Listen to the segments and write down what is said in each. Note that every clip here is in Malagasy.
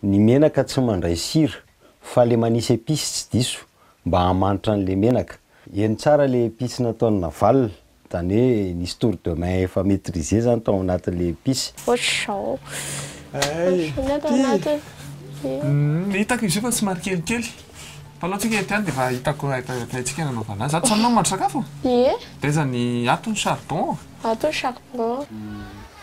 Ny menaka tsy mandray sira, fa le manisy epice tsy diso mba hamanitra an'le menaka. Heno tsara le epice nataon'i Naval, zany hoe nisy tour de main efa maitrise zany tao anatin'le epice. Ohatr'izao. Ohatr'izao ny ato anatiny. Hitako izy io fa somary kelikely. Mpanao tsika ety ihany dia efa hitako haintsika nanaovana azy. Ato izany ianao mandro sakafo? Ie. Dia aiza ny, ato ny charbon? Ato ny charbon.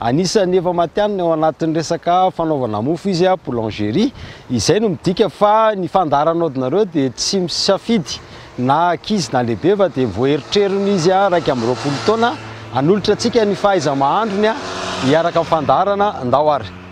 Anisan'ny efa matihanina ao anatin'ny resaka fanaovana mofo izy, boulangerie. Izay no midika fa ny fandaharan'aodinareo dia tsy misafidy na ankizy na lehibe fa dia voaeritrerin' izy iraika amby roapolo taona hanolotra antsika ny fahaiza-mahandrony hiaraka amin'ny fandaharana. Ndao ary.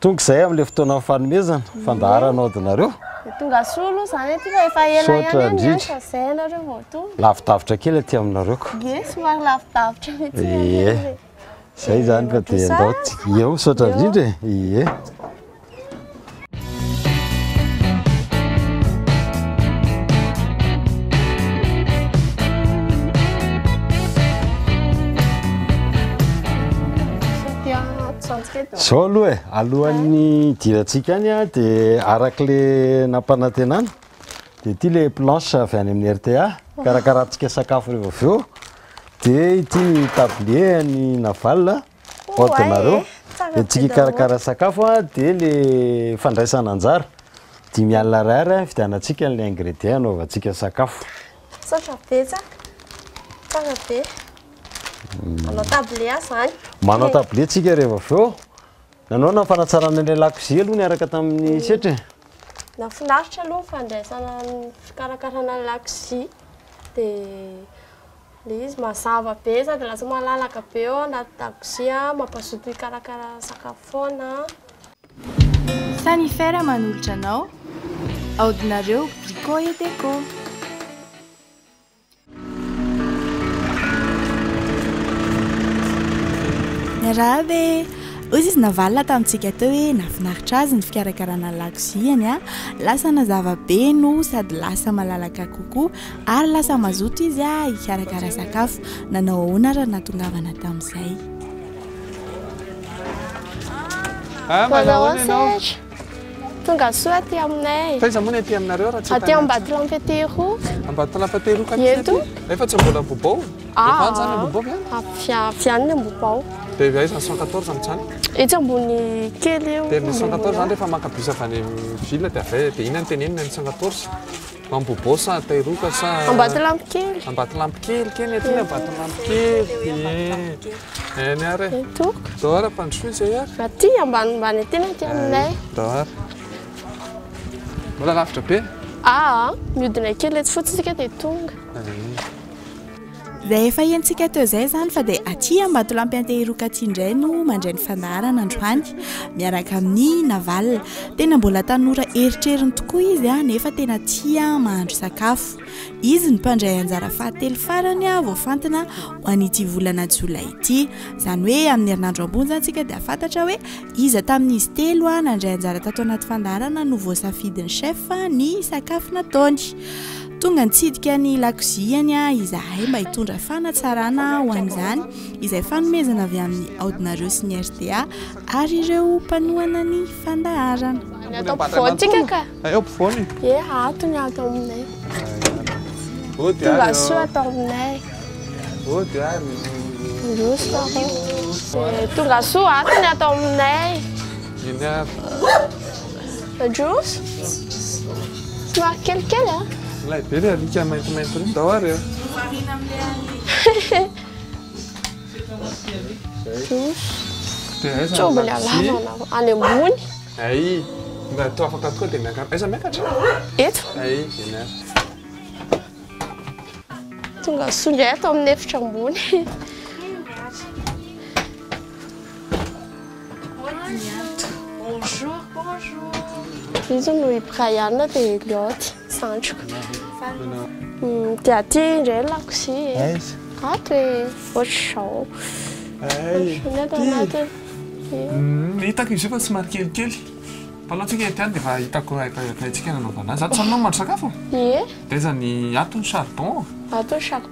Tonga izay amin'ilay fotoanan'ny fanomezana, fandaharana ao dinareo. Tonga soa aloha izany aty fa efa ela ihany Misaotra any indrindra. fa izay ianareo vao tonga. Lavidavitra kely aty aminareo ko. Ie, somary lavidavitra mihitsy ny Ie. anay e. Izay izany ka dia Mandroso andao a. tsy. Eo, misaotra Eo. indrindra e. Ie. Satria tsy ampy Zao aloha e, alohan'ny hidirantsika any dia arak'le nampanantenana dia ity le planche avy any amin'ny RTA, karakarantsika sakafo revo avy eo, dia ity ny tablier an'i Naval, ordinareo, entintsika hikarakara sakafo dia le fandraisana anjara, dimy alina ariary hividianantsika le ingredient hanaovantsika sakafo. Misaotra betsaka. Tsara be. Manao tablé aho zany. Manao tablé tsika rehefa avy eo. Nanao na fanatsarana ilay lakozia aloha niaraka tamin'ny mm. setra e. Nafinaritra aloha ny fandraisana fikarakarana ny lakozia. Dia le izy mazava be sady lasa malalaka be eo anaty dakozia mampazoto hikarakara sakafo foana Samy fer manolotra anao aodinareo Brico et Déco. Miarahaba e! Hoy izy navalona tamintsika teo hoe nahafinaritra azy ny fikarakarana ny lakoziany a! Lasa nazava be no sady lasa malalaka kokoa ary lasa mazoto izy hikarakara sakafo. Nanao ahoana ary nahatongavana tamin'izay? Ah, manao ahoana ianao? Tonga soa aty aminay. Taiza moa ny aty aminareo raha tsy Aty Ambatolampy Teroa. Ambatolampy Teroa ka Eto. Efa tsy mbola bobao. Ah. Efa zany bobao vy ah, ah, vy any bobao. Dia aiza ny 114 amin'izany? Etsy ambony kely eo. Dia ny 114 zany rehefa maka bus avy any ville dia avy dia inona ny tenenina ny 114? Ambohibo sa Tairoka sa Ambatolampikely. Ambatolampikely keny aty ny Ambatolampikely. Eh. Eh ny ary. Eto. Dora pandrosoy zay ary. Aty ambanimbany aty na aty aminay. Dora. Mbola lavitra be. Ah, miodina kely eto fotsiny sika dia tonga. Izay efa henontsika teo izay izany fa dia aty Ambatolampy Antehiroka aty indray no mandray ny fandaharana androany miaraka amin'ny Naval. Tena mbola tanora eritreriny tokoa izy nefa tena tia mahandro sakafo. Izy no mpandray anjara fahatelo farany voafantina ho an'ity volana jolay ity. Izany hoe amin'ny herinandro ambony izany isika dia hahafantatra hoe iza tamin'izy telo nandray anjara tato anaty fandaharana no voasafidin'ny chef ny sakafo nataony. Tonga nitsidika ny lakoziany izahay mba hitondra fanatsarana ho an'izany izay fanomezana avy amin'ny aodinareo sy ny rta ary ireo mpanohana ny fandaharana. Any ato ampovoany tsika ka. Ay ampovoany? Ie ato ny ato aminay. Tonga soa ato aminay. Ody ary. Ndroso aho. Tonga soa ato ny ato aminay. Iny avy. Ajos? Somary kelikely an! Ilay be ilay alika maintimainty ireny, ndao ary an! Marina amin'ilay alika. Ajos? Dia aiza no Mitovy ny lakozia? halavana fa any ambony. Ay! Mba toa afaka tokoa dia miakatra. Aiza miakatra? Eto. Ay! Eny ary. Tonga soa indray ato amin'ny efitra ambony. Izy no i Brian dia Elliot zandriko. Dia aty indray ny lakozia e. Ato e, ohatr'izao. Ohatr'izao ato anatiny. Hitako izy io fa somary kelikely. Mpanao tsika ety ihany dia efa hitako haintsika nanaovana azy. Ato izany no mahandro sakafo? Ie. Dia aiza ny, ato ny charbon? Ato ny charbon.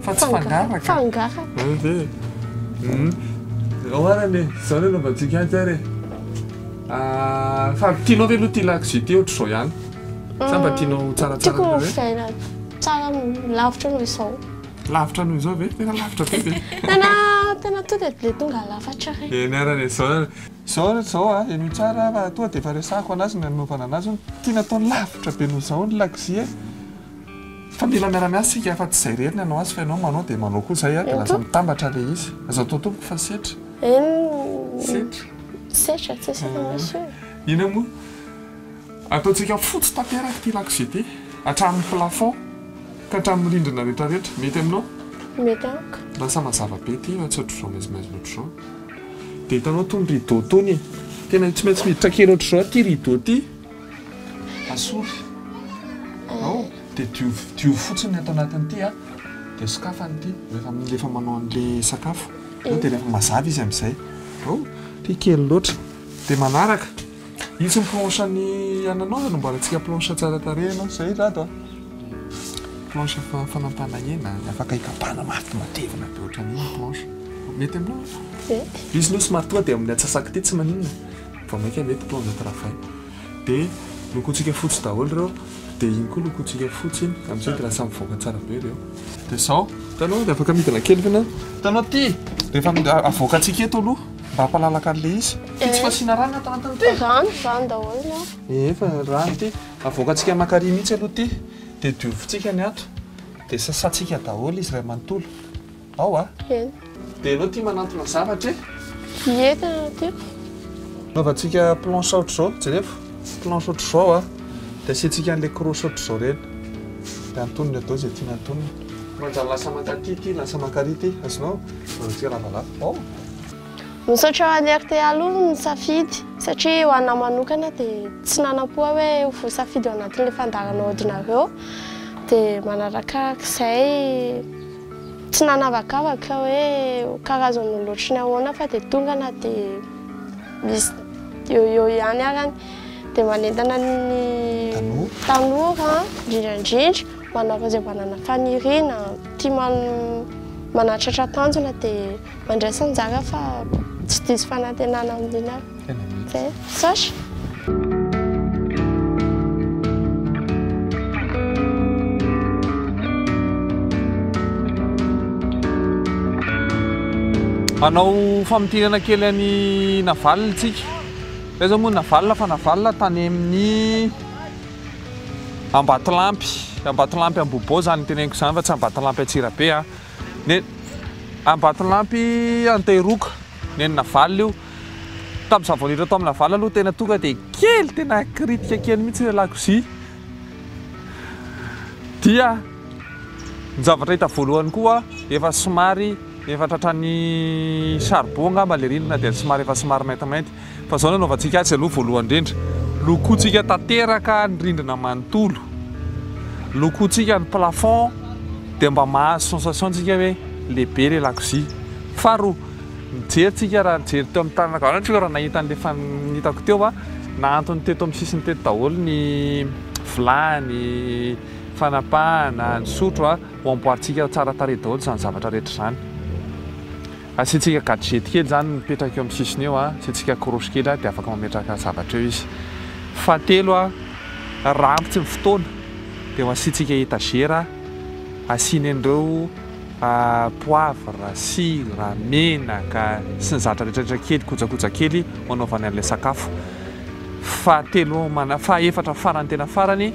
Fa tsy fangaraka. Fangaraka. Zany ve e. Hum. Oharana e, zao ny anaovantsika azy ary e. Fa tianao ve aloha ity lakozia ity ohatr'izao ihany? Sa mba tianao ho tsaratsara Tiako kokoa? ovaina tsara lavitra noho izao. Lavitra noho izao ve? Tena lavitra be ve? Tena tena tonga dia tonga lafatra re. Eny arany e. Zao arany. Zao arany zao a, henoy tsara fa tonga dia efa resahako an'azy ny nanaovana an'azy hoe tiana atao lavitra be noho izao ny lakozia e. Fa mila miara-miasa isika fa tsy izay irery ny hanao azy fa ianao manao dia manao koa izay dia lasa mitambatra ilay izy. Aza atao tompoko fa setra. Setra. Setra tsy isika misy. Inona moa? Ataontsika fotsy tanteraka ity lakozia ity hatramin'ny plafond ka hatramin'ny rindrina rehetrarehetra. Mety aminao? Mety amiko. Lasa mazava be ity raha tsy ohatr'izao maizimaizina ohatr'izao. Dia hitanao itony rideau itony, tena tsy maintsy miditra kely ohatr'izao ity rideau ity. Asory ao dia diovy diovy fotsiny ny ato anatin'ity a, dia sokafana ity rehefa rehefa manao an'ilay sakafo, ao dia rehefa mazava izy amin'izay, ao ity kely loatra, dia manaraka io tsy ny planche ny ananao anamboarantsika planche tsara tarehy ianao izay izy ato a, planche fa- fanampahana hena afaka hikapana mafy matevina be ohatran'io ny planche, mety aminao? Mety. Izy aloha somary tonga dia amin'ny antsasak'ity tsy maninona. Vao maika ve mpitondra travail de lokontsika fotsy daholo reo de iny koa lokontsika fotsy iny amizay de lasa mivoaka tsara be reo de zao hitanao de afaka midina kely foana hitanao aty rehefa avoakantsika eto aloha mba hampalalaka an'le izy ty tsy fasiana rano ato anatiny ty rano rano daholo no ee fa rano ty avoakantsika makary mihitsy aloha ty de diovintsika ny ato de sasantsika daholo izy ray manontolo Ao a? Eny. Dia ianao tia manantona zavatra e? Ie, tena tiako. Anaovantsika planche ohatr'izao, jereo, planche ohatr'izao a, dia asiantsika an'ilay croche ohatr'izao ireny, dia antonony atao izay tiana antonina. Manjary lasa mankaty ity, lasa mankarỳ ity, azonao? Anaovantsika lavalava. Ao. Misaotra ho an'i rta aloha ny safidy, satria ho anà manokana dia tsy nanam-po aho hoe ho voasafidy ao anatin'ilay fandaharana aodinareo, dia manarakarak'izay. Tsy nanavakavaka hoe ho karazan'ny olon-ohatry ny ahoana fa dia tonga na dia misy eo ho eo ihany arany dia manentana ny tanora indrindra indrindra manao izay manana faniriana tia manatratra tanjona dia mandraisa anjara fa tsy diso fanantenana amin'iny aho. Tena mety. Sacha. Hanao famintinana kely an'i Navalona tsika. Zay zao moa Navalona fa Navalona tany amin'ny Ambatolampy, Ambatolampy Ambohibo zany teneniko zany fa tsy Ambatolampy Antsirabe a. Ny Ambatolampy Antehiroka, ny an'i Navalona io. Tamin'izaho vao niditra tao amin'ny Laval aloha tena tonga dia kely tena critique kely mihitsy ilay lakozia. Dia ny zavatra hita voalohany koa efa somary efa tratran'ny charbon angamba ilay rindrina dia somary efa somary maintimainty. Fa izao no anaovantsika azy aloha voalohany indrindra. Lokointsika tanteraka ny rindrina manontolo. Lokointsika ny plafond dia mba mahazo sensation-tsika hoe lehibe ilay lakozia. Faharoa. Nijery tsika raha nijery teo amin'ny tanana ankavanana tsika raha nahita an'ilay efa nitako teo a, nahantony teto amin'ny sisiny teto daholo ny vilany, fanapahana, ny sotro a, ho amboarintsika tsara tarehy daholo izany zavatra rehetra izany. Asiantsika gadget kely izany mipetraka eo amin'ny sisiny eo a, asiantsika croche kely a dia afaka mametraka zavatra eo izy. Fahatelo a, raha ampy tsy ny fotoana dia ho asiantsika etagera asiany an'ireo. poivre, sira, menaka sy ny zatra rehetra rehetra kely kojakoja kely hanaovany an'ilay sakafo. Fahatelo mana- fahaefatra farany tena farany,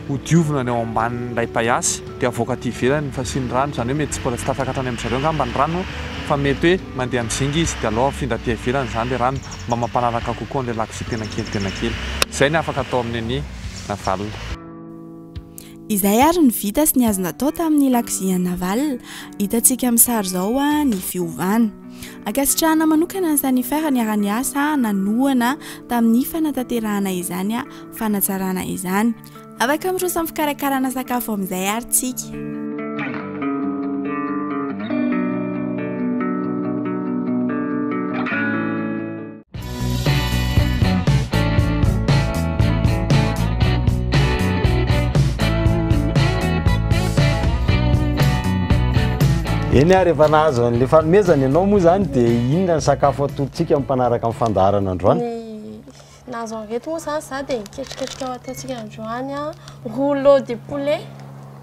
hodiovina ny ao ambanin'ilay paiasy dia avoaka aty ivelany fa asiany rano izany hoe mety tsy mbola tsy tafaka hatrany amin-dry zareo angamba ny rano fa mety hoe mandeha amin'ny zinga izy dia alao afindra aty ivelany izany ilay rano mba mampanaraka kokoa an'ilay lakozia tena kely tena kely. Izay ny afaka atao amin'ny ania na valona. Izay ary ny vita sy ny azo natao tamin'ny lakozian'i Naval. Hitantsika amin'ny sary izao ny fiovana. Ankasitrahana manokana ny Sanifer niara-niasa nanohana tamin'ny fanatanterahana izany fanatsarana izany. Afaka miroso amin'ny fikarakarana sakafo amin'izay ary tsika. Eny ary efa nahazo an'ilay fanomezana ianao moa izany dia inona ny sakafo atolotsika mpanaraka amin'ny fandaharana androany? Nahazo an'ireto moa izany za dia ketriketrika ataontsika androany rouleau de poulet.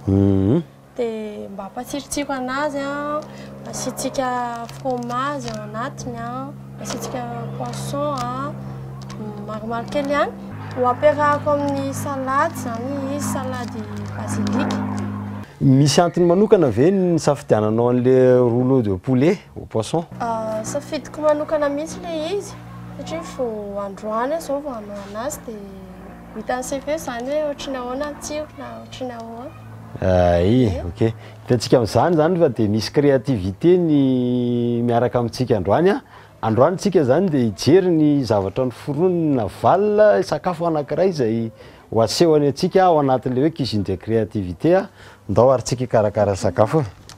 Mhm. Dia mba ampatsirotsiro an'azy an, asiantsika fromage ao anatiny an, asiantsika poisson an, maromaro kely ihany. Ho ampiarahako amin'ny salade izany izy, salade basilic. Misy antony manokana ve ny nisafidiananao an'ilay rouleau de poulet au poisson? Safidiko manokana mihitsy ilay izy satria vao androany aho izao vao hanao an'azy dia ho hitan'ny sefo eo izany hoe ohatry ny ahoana ny tsirony na ohatry ny ahoana. Ay, ok. Hitantsika amin'izany izany fa dia misy créativité ny miaraka amintsika androany. Androany tsika izany dia hijery ny zavatra noforoniny Naval, sakafo anankiray izay ho asehony antsika ao anatin'ilay hoe cuisine de créativité. Ndao ary tsika hikarakara sakafo.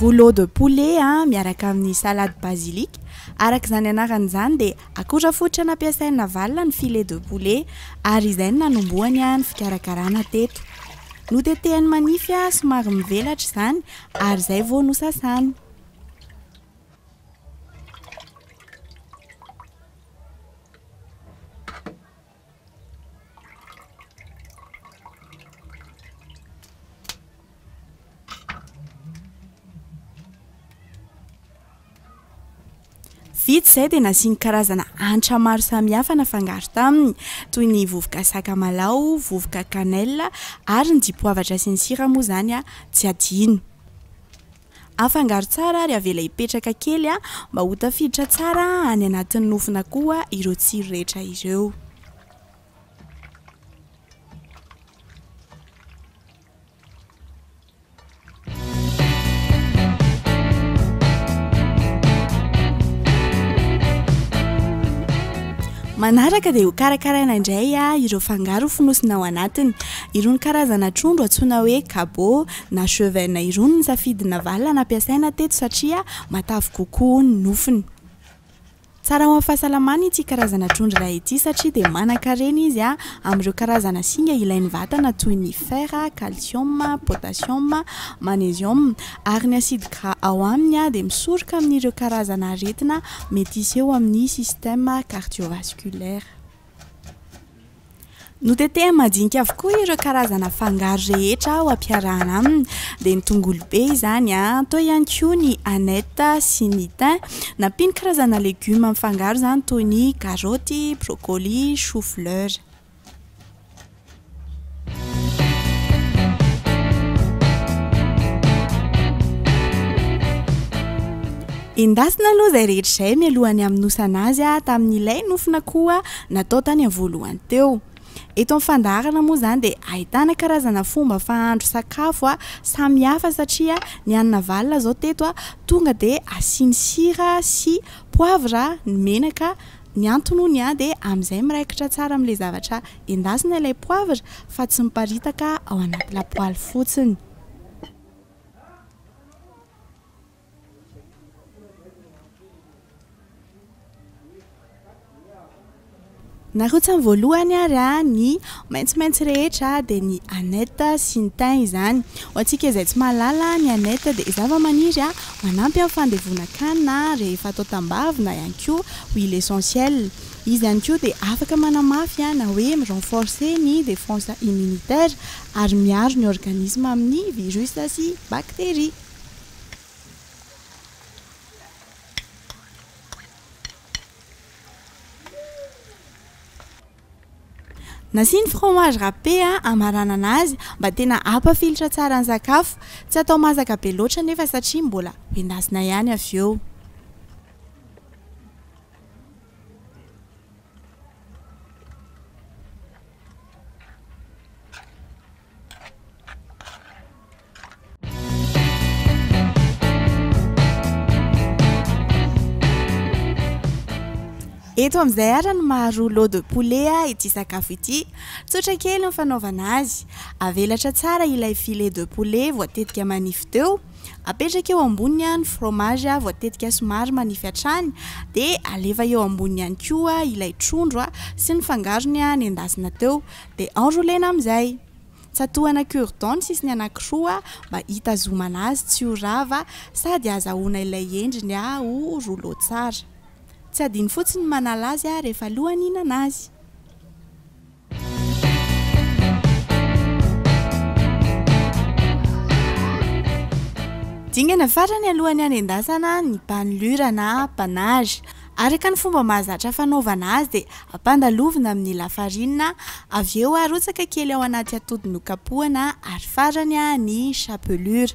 Rouleau de poulet miaraka amin'ny salade basilic. Araka izany anarany izany dia akora fototra nampiasain'i Navalona ny filet de poulet ary izay no nanombohany ny fikarakarana teto. Notetehany manify somary mivelatra izany ary izay vao nosasany. Vita izay dia nasiany karazana hanitra maro samihafa nafangaro taminy toy ny vovoka sakamalaho, vovoka cannelle ary ny dipoavatra sy ny sira moa izany tsy adino. Afangaro tsara ary avela hipetraka kely mba ho tafiditra tsara any anatin'ny nofon'akoho ireo tsiro rehetra ireo. Manaraka dia ho karakaraina indray ireo fangaro ho fonosina ao anatiny. Irony karazana trondro antsoina hoe kabo. na Chevaines irony ny safidy navalona nampiasaina teto satria matavy kokoa ny nofony. Tsara ho an'ny fahasalamana ity karazana trondro iray ity satria dia manan-karena izy amin'ireo karazana singa ilain'ny vatana toy ny fer, calcium, potassium, magnesium ary ny acide gras ao aminy dia misoroka amin'ireo karazana aretina mety hiseho amin'ny système cardiovasculaire. Notetehany madinika avokoa ireo karazana fangaro rehetra ho ampiarahana aminy, dia ny tongolo be izany, teo ihany koa ny aneth sy ny thym. Nampiany karazana legioma mifangaro izany toy ny karoty, broccoli, choux fleur. Endasina aloha izay rehetra izay mialohan'ny hamonosana azy tamin'ilay nofina koa natao tany amin'ny voalohany teo. Eto amin'ny fandaharana moa izany dia ahitana karazana fomba fahandro sakafo a samy hafa satria ny an'i Navalona izao teto a tonga dia asiany sira sy poivre ny menaka ny antony hono dia amin'izay miraikitra tsara amin'ilay zavatra Endasina ilay poivre fa tsy miparitaka ao anaty lapoaly fotsiny. Narotsany voalohany ary ny maitsomaitso rehetra dia ny aneth sy ny thym izany. Ho antsika izay tsy mahalala, ny aneth dia zavamaniry manampy amin'ny fandevonan-kanina rehefa atao tambavy na ihany koa huile essentielle. Izy ihany koa dia afaka manamafy na hoe mi-renforcer ny défense immunitaire ary miaro ny organisme amin'ny virus sy bactéries. Nasiany fromage râpé hamaranana azy mba tena hampafilotra tsara ny sakafo. Tsy atao masaka be loatra anefa satria mbola hoendasina ihany avy eo. Eto amin'izay ara ny maha rouleau de poulet ity sakafo ity. Tsotra kely ny fanaovana azy. Avelatra tsara ilay filet de poulet voatetika manify teo. Apetraka eo amboniny ny fromage voatetika somary manify hatrany dia alefa eo amboniny ihany koa ilay trondro sy ny fangarony nendasina teo dia enroulena amin'izay. Tsatohana cure dent ny sisiny anankiroa mba hitazomana azy tsy ho rava sady azahoana ilay endriny ho rouleau tsara. Tsy adino fotsiny ny manala azy rehefa alohan'ny hihinana azy. Dingana farany alohan'ny hanendasana ny mpanolira na panache. Araka ny fomba mahazatra fanaovana azy dia ampandalovina amin'ny lafarinina, avy eo arotsaka kely ao anaty atody nokapohana ary farany ny chapelure.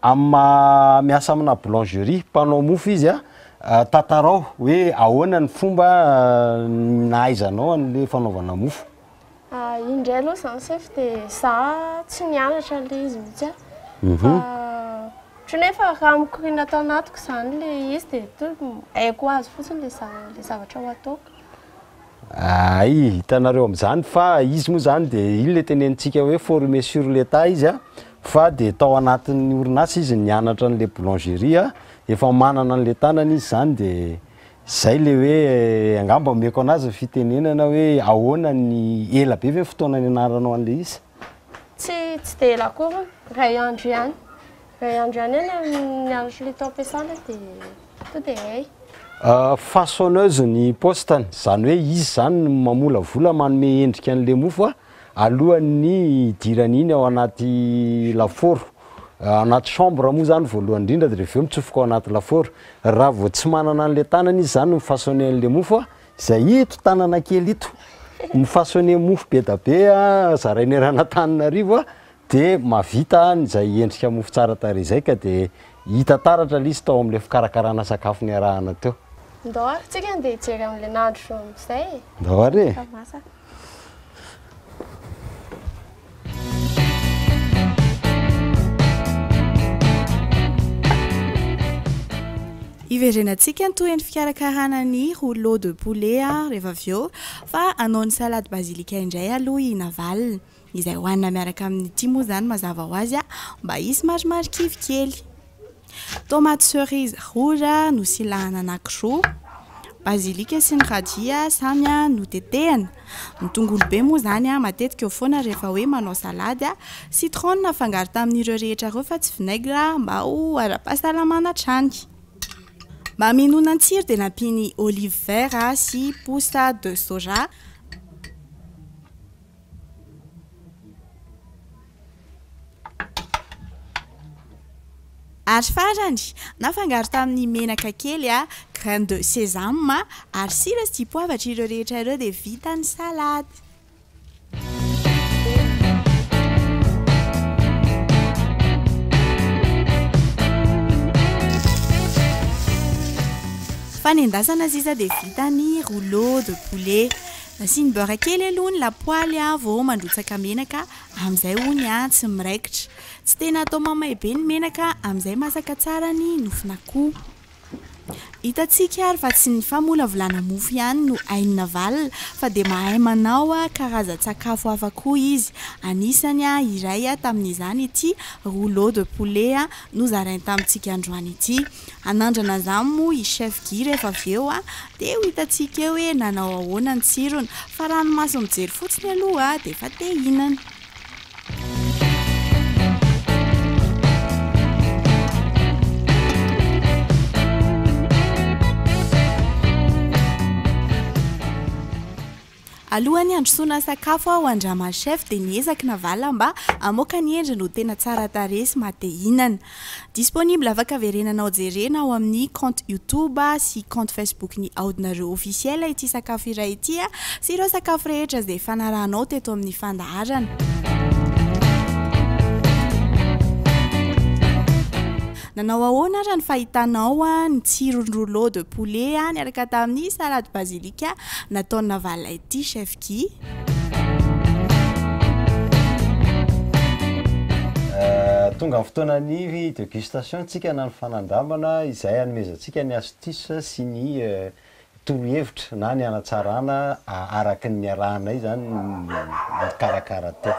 Amin'ny maha miasa amina boulangerie, mpanao mofo, izy, tantarao hoe ahoana ny fomba nahaizanao an'ilay fanaovana mofo? Iny indray aloha izany chef dia za tsy nianatra an'ilay izy mihitsy aho fa ohatran'ny hoe efa raha mikoriana tao anatiko izany ilay izy dia haiko ho azy fotsiny ilay zavatra ho ataoko. Hay, hitanareo amin'izany fa izy moa izany dia iny ilay tenenintsika hoe former sur le tas izy a, fa dia tao anatin'ny orinasa izy nianatra an'ilay boulangerie a, efa manana an'ilay tanany izy izany dia izay ilay hoe angamba omeko an'azy ny fitenenana hoe ahoana ny, ela be ve ny fotoana nianaranao an'ilay izy? Tsy, tsy dia ela akory, iray andro ihany. Iray andro ihany eo ny ny andro solita am-piasana dia tonga dia hay. Façonneuse ny postany, izany hoe izy izany no mamolavola, manome endrika an'ilay mofo alohan'ny hidirany iny ao anaty lafaoro. Anaty chambre moa izany voalohany indrindra dia avy eo mitsofoka ao anaty lafaoro. Raha vao tsy manana an'ilay tanany izy izany mifaçonner an'ilay mofo, Zay ito tanana kely ito mifasoner mofo bedabe a zarainy eran Antananarivo a de mavita an zay endrika mofo tsara tarehy zay ka de hita taratra le izy tao amle fikarakarana sakafo niarahana teo. Ndao ary tsika ndeha hijery an'le nandro amzay e! Ndao ary e! Hiverenantsika ny tohin'ny fikarakarana ny rouleau de poulet rehefa avy eo fa hanao ny salade basilic indray aloha i Navalona. Izay hohanina miaraka amin'ity moa izany mazava ho azy mba hisy marimarikivy kely. Tomate cerise rouge nosilahana anankiroa, basilika sy ny radia samy notetehana. Ny tongolo be moa izany matetika eo foana rehefa hoe manao salady. Citron nafangaro tamin'ireo rehetra ireo fa tsy vinaigre mba ho ara-pahasalamana hatrany. Mba hamelona ny tsiro dia nampiany olive vert sy pousse de soja. Ary farany, nafangaro tamin'ny menaka kely, graines de sésame, ary sira sy dipoavatra ireo rehetra ireo dia vita ny salady. Fanendasana sisa dia vita ny rouleau de poulet. Asiany beurre kely aloha ny lapoaly vao mandrotsaka menaka amin'izay ony tsy miraikitra. Tsy tena atao mamay be ny menaka amin'izay masaka tsara ny nofon'akoho. Hitantsika ary fa tsy ny famolavolana mofo ihany no hain'i Navalona fa dia mahay manao karazan-tsakafo hafa koa izy. Anisany iray tamin'izany ity rouleau de poulet nozarainy tamintsika androany ity. Hanandrana an'izany moa i Chef Guy rehefa avy eo Dia ho hitantsika eo hoe nanao ahoana ny tsirony. Fa raha ny maso mijery fotsiny aloha dia efa te hihinana. Alohan'ny handrosoana sakafo aho an-dRama Chef dia niezaky navala mba hamoaka ny endriny ho tena tsara tarehy sy maha te hihinana. Disponible afaka verenanao jerena ao amin'ny compte YouTube sy compte Facebook ny Aodinareo Officiel ity sakafo iray ity sy ireo sakafo rehetra izay fanarahanao teto amin'ny fandaharana. Nanao ahoana ary ny fahitanao ny tsiron'ny rouleau de poulet niaraka tamin'ny salade basilic? Ka nataony navalona ity chef Guy. Tonga ny fotoana ny degustation tsika na ny fanandramana izay hanomezantsika ny astuce sy ny torohevitra na ny hanatsarana araky ny niarahanay izany nikarakara teo.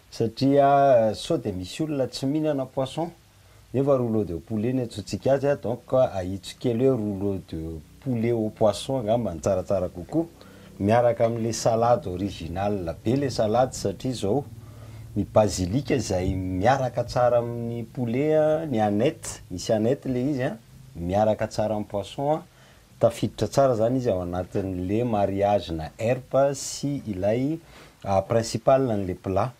Satria sao dia misy olona tsy mihinana poisson nefa rouleau de poulet no iantsoantsika azy a, donc ahitsiko kely hoe rouleau de poulet au poisson angamba no tsaratsara kokoa, miaraka amin'ilay salade original be ilay salade satria izao ny basilic izay miaraka tsara amin'ny poulet, ny aneth, misy aneth ilay izy an, miaraka tsara amin'ny poisson Tafiditra tsara zany izy ao anatin le mariage na erp sy ilay principal anle mpla.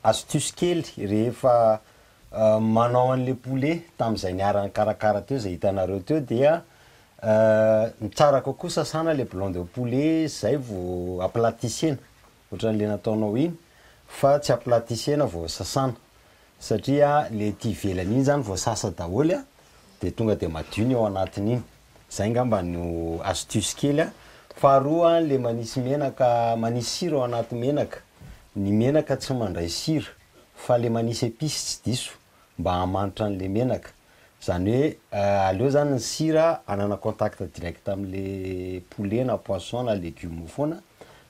Astuce kely rehefa manao anle poulet tamzay niara nikarakara teo zay hitanareo teo dia ny tsara kokoa sasana le viande au poulet zay vo aplatissena. ohatran le nataonao iny fa tsy à platisiena vao sasana satria le aty ivelany iny zany vao sasa daholo a de tonga de madio ny ao anatiny iny, zay ngamba no astuce kely a, faharoa le manisy menaka manisy sira ao anaty menaka, ny menaka tsy mandray sira fa le manisy epice tsy diso. mba hamanitra an'le menaka, zany hoe aleo zany ny sira hanana contact direct am'le poulet na poisson na legume foana,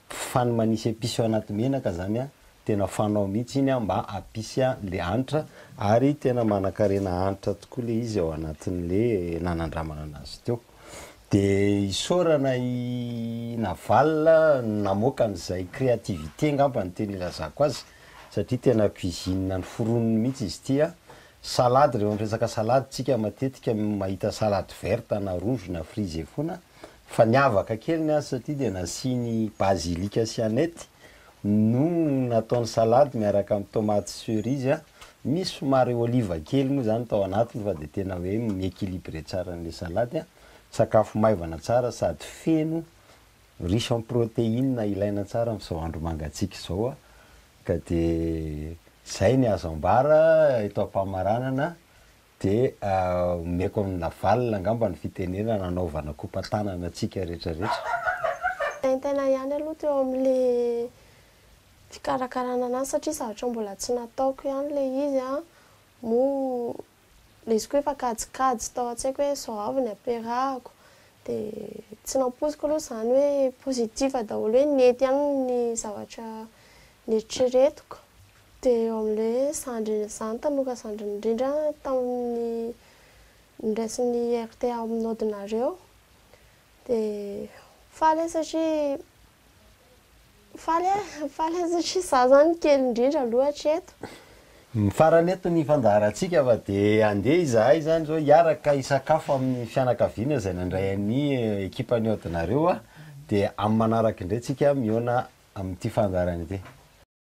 fa ny manisy epice ao anaty menaka zany an, tena fanao mihitsy iny an mba hampisy an'le hanitra ary tena manankarena hanitra tokoa le izy ao anatin'le nanandramana anazy teo. De isaorana i Naval namoaka an'izay créativité ngamba no tena ilazako azy, satria tena cuisine ny foroniny mihitsy izy ity an! salade, rehefa miresaka salade tsika matetika mahita salade verte na rouge na frisé foana fa niavaka kely ny azy satria dia nasiany basilic sy aneth no nataony salade miaraka amin'ny tomates cerises an! misy somary olive kely moa izany tao anatiny fa dia tena hoe mi-equilibrer tsara an'ilay salade an! sakafo maivana tsara sady feno Riche en protéines ilaina tsara amin'izao andro mangatsiaka izao a, ka dia izay ny azo ambara eto am-pamaranana, dia omeko an'i Navalona angamba ny fitenenana hanaovana kopa-tanana antsika rehetra rehetra. Mitaintaina ihany aloha teo amin'ilay fikarakarana an'azy satria zavatra mbola tsy nataoko ihany ilay izy an, moa Lesoko efa kajikajy tao an-tsaiko hoe izao avy ny ampiarahako dia tsy nampoiziko aloha izany hoe positif daholo hoe nety aminy ny zavatra neritreretiko dia eo amin'ilay hoe zandry izaho ny tamoka zandriny indrindra tamin'ny niraisin'ny rta mnaudinareo dia faly aho satria Faly a, faly a satria za zany kely indrindra aloha hatreto. Ny farany eto ny fandaharantsika fa dia handeha izahay izany izao hiaraka hisakafo amin'ny fianakaviana izay nandray an'i ekipan'ny Audinareo dia amin'ny manaraka indray tsika mihaona amin'ity fandaharana ity.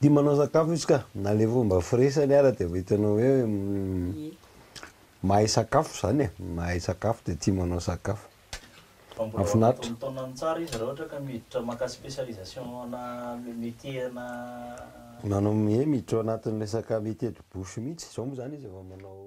Dia manao sakafo izy ka, na le fomba firesany ara dia efa hitanao hoe Ie. mahay sakafo izany e, mahay sakafo dia tia manao sakafo. Fa mbola ao anaty Mahafinaritra. fotoana ny tsara izy raha ohatra ka miditra maka spécialisation ana métier ana. Manao ie miditra ao anatin'ny resaka métier de bouche mihitsy, izao moa izany izy efa manao.